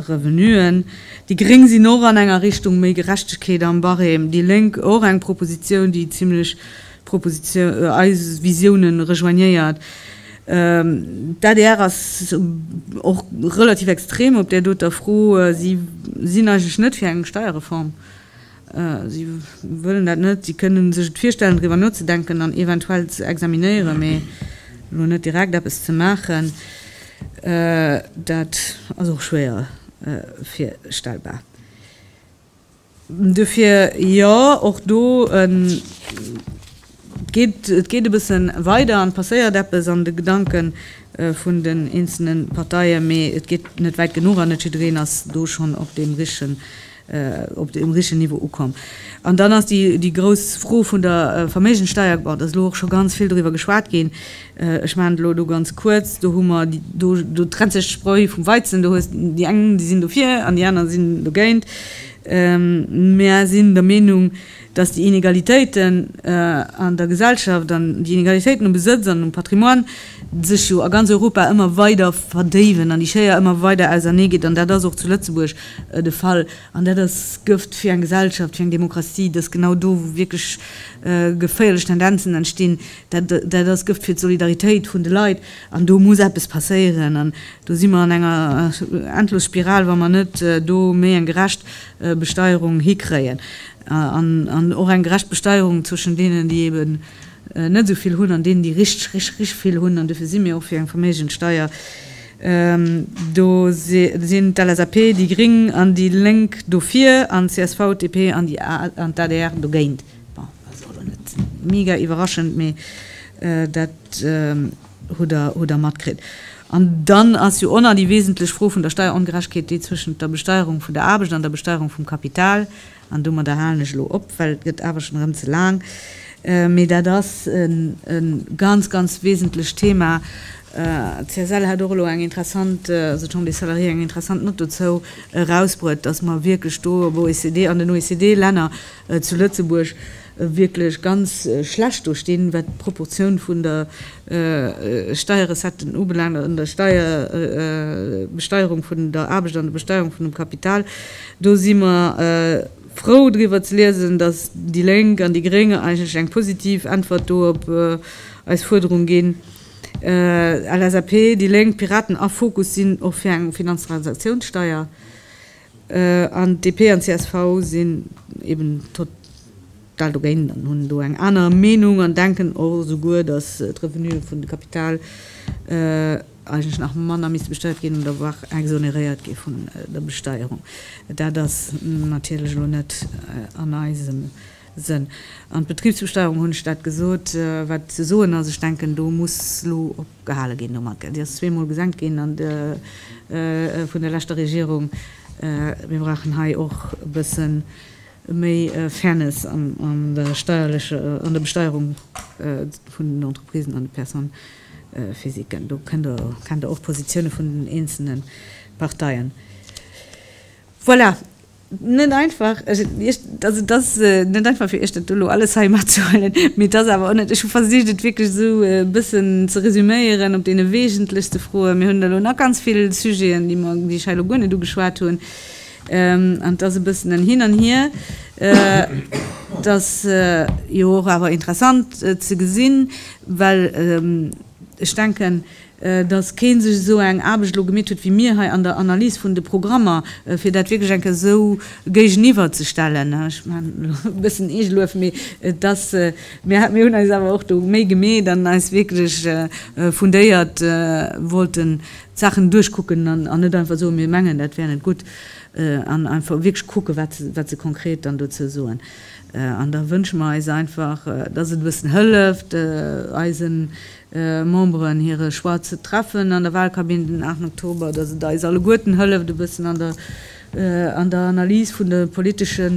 Revenuen. Déi Gréng sinn och an enger Richtung méi Gerechtegkeet am Barème. Déi Lénk och eng Propositioun, déi zimlech Proposition, eis Visiounen rejoignéiert. D'adr ass och relativ extrem op där doter Fro. Si sinn eigentlech net fir eng Steierreform. Si wëllen dat net. Si kënnen sech et virstellen, driwwer nozedenken an eventuell ze examinéieren, mee elo net direkt eppes ze maachen, dat ass och schwéier virstellbar. Dofir jo, och do geet et e bësse weider an et passéiert eppes an de Gedanke vun den eenzelne Parteien, mee et geet net wäit genuch an net jiddereen ass do schonn op deem richtegen Niveau ukomm. An dann ass déi grouss Fro vun der Verméigenssteuer, bon, et ass elo och scho ganz vill doriwwer geschwat ginn, Ech maachen et elo do ganz kuerz. Do hu mer, do trennt sech d'Spreu vum Weizen. Do hues déi eng, déi sinn dofir an déi aner sinn dogéint. Mer sinn der Meenung, dass déi Inegalitéiten an der Gesellschaft an déi Inegalitéiten um Besëtz an um Patrimoine sech jo a ganz Europa ëmmer weider verdéiwen an déi Schéier ëmmer weider ausernee geet. An dat ass och zu Lëtzebuerg de Fall. An dat ass Gëft fir eng Gesellschaft, fir eng Demokratie, dass genau do wierklech geféierlech Tendenzen entstinn, Dat ass Gëft fir d'Solidaritéit vun de Leit. An do muss eppes passéieren. An do si mer an enger Endlosspiral, wa mer net do méi eng gerecht Besteierung hikréien. An och eng gerecht Besteierung zwëschen deenen, déi eben net esou vill hunn, an deenen, déi richteg, richteg, richteg vill hunn. An dofir si mir och fir eng Verméigenssteuer. Do sinn d'LSAP, déi gréng an déi Lénk dofir, an d'CSV, d'DP an d'ADR dogéint. Bon, ass och lo net mega iwwerraschend, mee dat hutt Der matkritt. An dann ass jo och nach déi wesentlech Fro vun der Steierongerechtegkeet, déi zwëschent der Besteierung vun der Aarbecht an der Besteierung vum Kapital. An domadder halen ech elo op, well et gëtt awer schonn erëm ze laang. Mee dat ass e ganz, ganz wesentlecht Thema. D'CSL hat och elo eng interessant, also d'Chambre des Salariés, eng interessant Nott dozou erausbruet, dass mer wierklech do am OECD, an den OECD-Länner, zu Lëtzebuerg wierklech ganz schlecht do stinn, wat d'Proportioun vun der Steierrecetten ubelaangt an der Steier Besteuerung vun der Aarbecht an der Besteuerung vun dem Kapital. Do si mer frou driwwer ze liesen, datt déi Lénk an déi Gréng eigentlech eng positiv Äntwert do op eis Fuerderung ginn. LSAP, déi Lénk, Piraten a Fokus sinn och fir eng Finanztransaktiounssteier. An DP an csv sinn eben total dogéint an hunn do eng aner Meenung an denken och esouguer, datt d'Revenue vun de Kapital eigentlech nach manner misste besteiert ginn oder voire exonéréiert gi vun der Besteierung. Dat ass natierlech elo net an eisem Sënn. An d'Betribsbesteierung, hunn ech dat gesot, wat ze soen ass, ech denken do muss elo op. gehale ginn domat. Dir ass zweemol gesenkt ginn an de vun der leschter Regierung. Mir brauchen hei och e bësse méi Fairness an der steierleche, an der Besteierung vun den Entreprisen an de Personnes-physiquen. Do kennt Der, kennt Der och d'Positioune vun den eenzelne Parteien. Voilà. net einfach, ech et Iech, also et ass net einfach fir Iech dat do elo alles hei matzehuelen, mee et ass awer och net, ech hu versicht et wierklech esou e bëssen ze resuméieren op deene weesentlechste Froen. Mir hunn elo nach ganz vill Sujeten, déi mer, déi ech hei elo guer net ugeschwat hunn, an et ass e bëssen en Hin an Hier. Et ass jo och awer interessant ze gesinn, well ech denken, dass keen sech esou eng Aarbecht elo gemeet huet wéi mir hei an der Analys vun de Programmer, fir dat wierklech eng Kéier esou géigeniwwer ze stellen. Ech maachen elo e bëssen Eegeluef, mee et ass, mir hunn eis awer och do Méi gemeet an eis wierklech fundéiert wollten d'Saachen duerchkucken an net einfach soen, mir mengen dat wär net gutt, an einfach wierklech kucke wat se konkret dann dozou soen. An da wënsche mer eis einfach, dass et e bëssen hëlleft eisen Memberen hire Choix ze treffen an der Wahlkabinn den 8 Oktober, dass et eis alleguerten hëlleft e bëssen an der Analys vun de politesche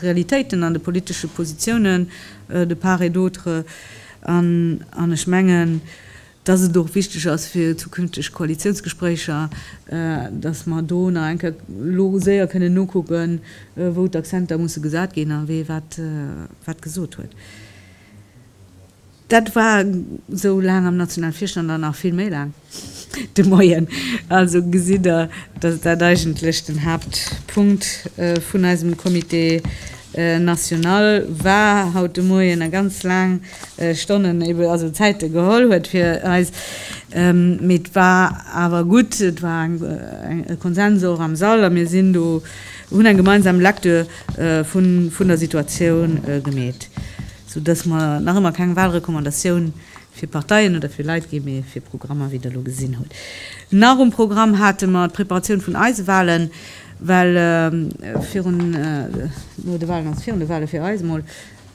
Realitéiten an de politesche Positiounen de part et d'autre an ech mengen, dass et och wichteg ass fir zukünfteg Koalitiounsgespréicher, dass mer do nach eng Kéier elo séier kënnen nokucken, wou d'Accenter musse gesat ginn a wee wat gesot huet. Dat war esou laang am nationale Virstand an nach vill méi laang de Moien. Also gesitt Der, dass dat eigentlech den Haaptpunkt vun eisem Comité national war haut de Moien a ganz laang Stonnen, ebe also Zäite geholl huet fir eis. Mee et war awer gutt, et war e Konsens och am Sall a mir sinn do, hunn eng gemeinsam Lecture vun der Situatioun gemeet. Sou dass mer nach ëmmer keng Wahlrecommandatioun fir Parteien oder fir Leit ginn, mee fir Programmer, wéi Der elo gesinn hutt. Nach um Programm hate mer d'Preparatioun vun eise Wahlen, well virun, no de Wahlen, also virun de Wahlen fir eis emol,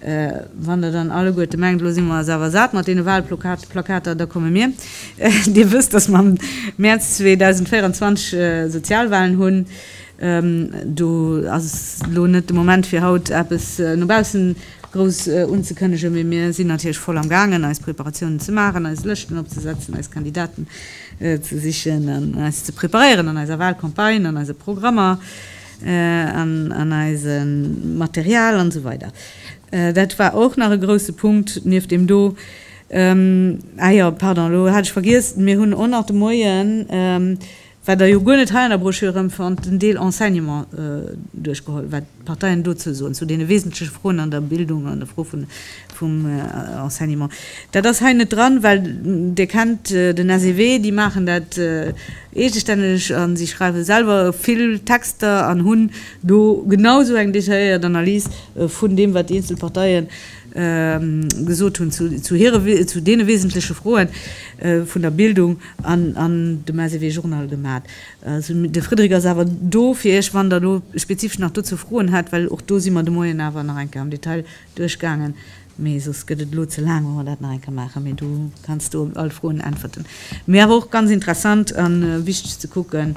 wann Der dann alleguerte mengt, elo si mer es awer sat mat deene Wahlplakater, da komme mir. Dir wësst, dass mer am Mäerz 2024 Sozialwahlen hunn. Do ass elo net de Moment fir haut eppes no baussen grouss unzekënnegen, mee mir sinn natierlech voll am gaangen eis Preparatiounen ze maachen, eis Lëschten opzesetzen, eis Kandidaten ze sichen an eis ze preparéieren an eiser Wahlcampagne, an eise Programmer, an eisem Material an esou weider. Dat war och nach e grousse Punkt nieft deem do. Ah jo, pardon, elo hat ech vergiess, mir hunn och nach de Moien wat Der jo guer net hei an der Broschür erëmfannt, den Deel Enseignement duerchgeholl, wat d'Parteien dozou soen, zu deene wesentleche Froen an der Bildung, an der Fro vum Enseignement. Dat ass hei net dran, well Dir kennt den SEW, déi maachen dat eegestänneg a si schreiwe selwer vill Texter an hunn do genau esou eng detailléiert Analys vun deem, wat déi eenzel Parteie gesot hunn zu deene wesentleche Froe vun der Bildung. An an dem SEW Journal gemat. Sou, de Frédéric ass awer do fir Iech, wann Der do spezifesch nach dozou Froen hätt, well och do si mer de Moien awer nach eng Kéier am Detail duerchgaangen. Mee soss gëtt et elo ze laang, wa mer dat nach eng Kéier maachen. Mee du kanns do op all Froen äntwerten. Mee awer och ganz interessant a wichteg ze kucken,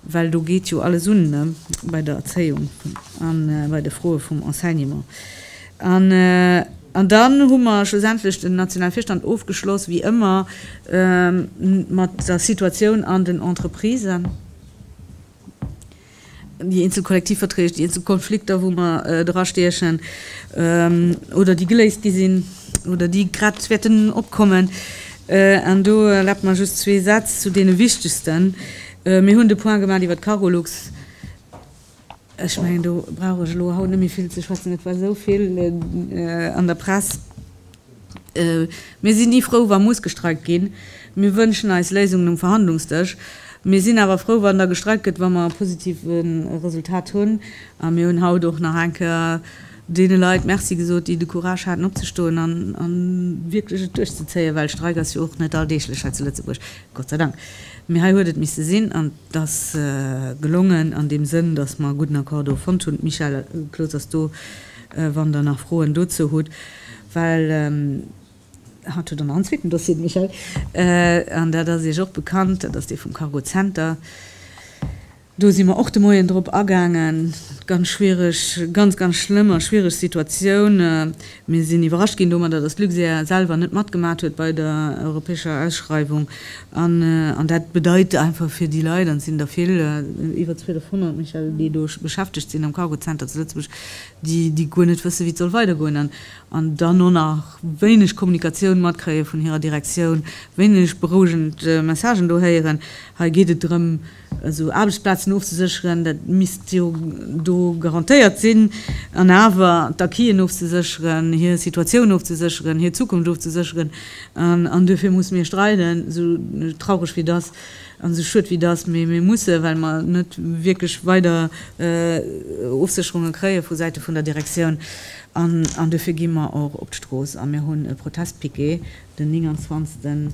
Well do geet jo alles un, ne, bei der Erzéiung a bei de Froe vum Enseignement. An dann hu mer schlussendlech den Nationalvirstand ofgeschloss, wéi ëmmer, mat der Situatioun an den Entreprisen, déi eenzel Kollektivverträg, déi eenzel Konflikter, wou mer drastiechen oder déi geléist gi sinn oder déi grad wäerten opkommen. An do erlaabt mer just zwee Sätz zu deene wichtegsten. Mir hunn de Point gemaat iwwert d'Cargolux. Ech mengen, do brauch ech elo haut net méi vill ze schwätzen. Et war esou vill an der Press. Mir sinn ni frou, wa muss gestreikt ginn. Mir wënschen eis Léisungen um Verhandlungsdësch. Mir sinn awer frou, wann da gestreikt gëtt, wa mer e positive Resultat hunn. A mir hunn haut och nach eng Kéier deene Leit Merci gesot, déi de Courage haten opzestoen an a wierklech et duerchzezéien, well Streik ass jo och net alldeeglech hei zu Lëtzebuerg, Gott sei Dank. Mee hei huet et misste sinn an et ass gelongen an deem Sënn, datt mer e gudden Accord do fonnt hunn. Michel Cloos ass do, wann Der nach Froen dozou hutt, well haut hutt Der nach en zweeten Dossier, de Michel, an dat ass Iech och bekannt, dat ass dee vum Cargocenter. Do si mer och de Moien drop agaangen. Ganz schwiereg, ganz, ganz schlëmm a schwiereg Situatioun. Mir sinn iwwerrascht ginn domadder, dass d'Luxair selwer net matgemaach huet bei der europäescher Ausschreiwung. An dat bedeit einfach fir déi Leit, an et sinn der vill, iwwer 1.200, Michel, déi do beschäftegt sinn am Cargo Center zu Lëtzebuerg, déi guer net wëssen, wéi et soll weidergoen an dann och nach wéineg Kommunikatioun matkréie vun hirer Direktioun, wéineg berouegend Messagen do héieren. Hei geet et drëm, Esou Aarbechtsplazen ofzesécheren, dat misst jo do garantéiert sinn. An awer d'Acquisen ofzesécheren, hir Situatioun ofzesécheren, hir Zukunft ofzesécheren. An duerfir musse mir streiden, esou traureg wéi et ass an esou schued wéi et ass, mee mir mussen, well mer net wierklech weider Ofsécherunge kréie vu Säite vun der Direktioun. An duerfir gi mer och op d'Strooss a mir hunn e Protestpiquet Den 29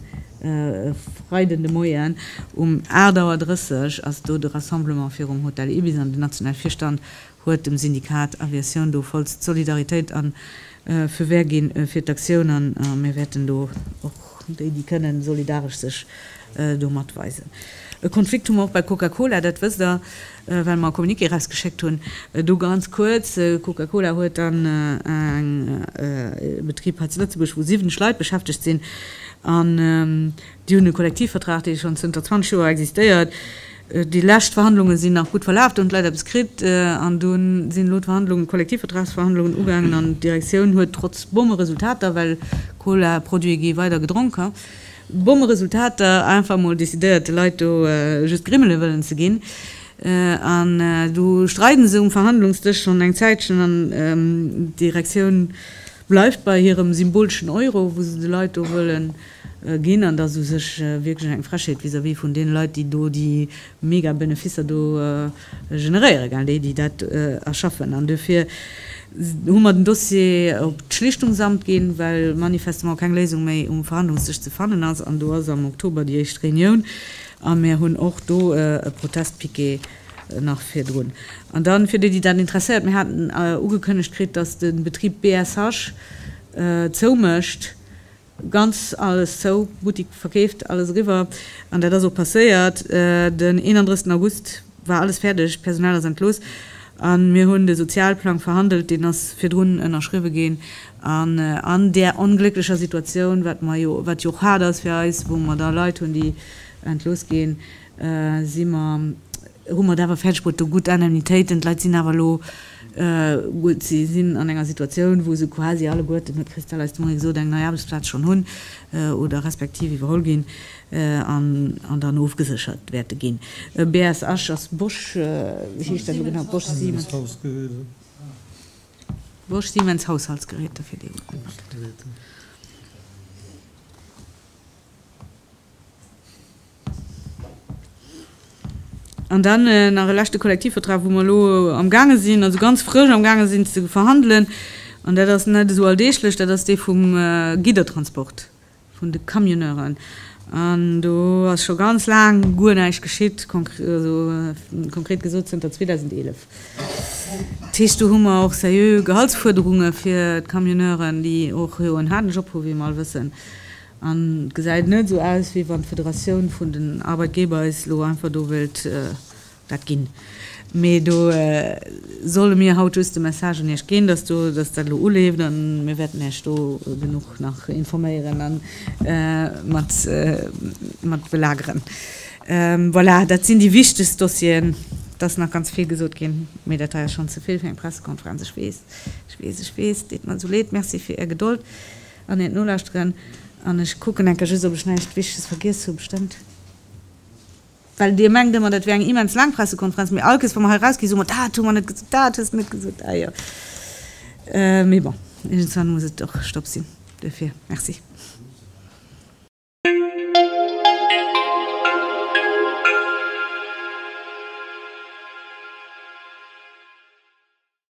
Freiden de Moien um 8 Auer 30 ass do de Rassemblement virum Hotel Ibis an den nationale Virstand huet dem Syndikat Aviatioun do vollst Solidaritéit an Fewähr ginn fir d'Aktioun an mir wäerten do och déi déi kënnen solidaresch sech do mat weisen. E Konflikt hu mer och bei Coca-Cola, dat wësst der. well mer e Communiqué erausgeschéckt hunn. Do ganz kuerz, de Coca-Cola huet dann eng, ee Betrib hei zu Lëtzebuerg, wou 70 Leit beschäftegt sinn an déi hunn e Kollektivvertrag, dee schonn zënter 20 Joer existéiert. Déi lescht Verhandlunge sinn nach gutt verlaf, do hunn d'Leit eppes kritt an do sinn elo d'Verhandlungen, d'Kollektivvertragsverhandlungen ugaangen an d'Direktioun huet trotz bomme Resultater, well Cola-Produite gi weider gedronken, Bomme Resultater, einfach emol decidéiert de Leit do just Grimmele wëllen ze ginn. An du streiden se um Verhandlungsdësch schonn eng Zäitchen an d'Direktioun bleift bei hirem symboleschen Euro wou se de Leit do wëlle ginn. An dat ass u sech wierklech eng Frechheet vis-à-vis vun deene Leit déi do déi mega Beneficer do generéieren, gell, déi, déi dat erschaffen. An duerfir hu mer den Dossier op d'Schlichtungsamt ginn, well manifestement keng Léisung méi um Verhandlungsdësch ze fannen ass. An do ass am Oktober déi éischt Reunioun a mir hunn och do e Protestpiquet nach virdrun. An dann, fir déi, déi dat interesséiert, mir haten ugekënnegt kritt, dass de Betrib BSH zou mécht. Ganz alles zou, Buttik verkeeft, alles eriwwer. An dat ass och passéiert. Den 31 August war alles fäerdeg, d'Personal ass entlooss a mir hunn de Sozialplang verhandelt. Deen ass virdrun ënnerschriwwe ginn. An an där onglécklecher Situatioun, wat jo och haart ass fir eis, wou mer da Leit hunn, déi entlooss ginn, si mer, hu mer et awer fäerdeg bruet, do gutt Indemnitéiten, d'Leit sinn awer elo gutt, si sinn an enger Situatioun, wou se quasi alleguerten, huet d'Christelle eis de Moien gesot, eng nei Aarbechtsplaz schonn hunn oder respektiv iwwerholl ginn an dann ofgeséchert wäerte ginn. BS Esch ass Bosch, wéi heescht dat elo genau, Bosch Siemens? Haushaltsgeräte. Bosch Siemens Haushaltsgeräte, fir déi gutt gemaach huet. An dann nach e leschte Kollektivvertrag, wou mer elo am gaange sinn, also ganz frësch am gaange sinn ze verhandelen. An dat ass net esou alldeeglech, dat ass dee vum Giddertransport, vun de Camionneuren. An do ass scho ganz laang guer näischt geschitt, konkret gesot zënter 2011. Dat heescht, do hu mer och seriö Gehaltsfuerderunge fir d'Camionneuren, déi och jo en haarden Job hu wéi mer all wëssen. An et gesäit net esou aus, wéi wann d'Federatioun vun den Arbeitgeber eis elo einfach do wëllt dat ginn. Mee do solle mir haut just de Message un Iech ginn, dass dat elo uleeft. A mir wäerten Iech do genuch nach informéieren a mat belageren. Voilà, dat sinn déi wichtegst Dossieren. Et ass nach ganz vill gesot ginn, mee dat hei ass schonn ze vill fir eng Pressekonferenz. Ech weess, ech weess, ech weess. Deet mer esou leed. Merci fir Är Gedold. An hiert nolauschteren an ech kucken enker just op ech näischt Wichtiges vergiess hu bestëmmt. Well dir mengt ëmmer dat wier eng immens laang Pressekonferenz, mee all Kess wa mer hei erausgi soe mer, dat hu mer net gesot, dat hues de net gesot, ah jo. Mee bon, iergendswann muss et och Stopp sinn duerfir. Merci.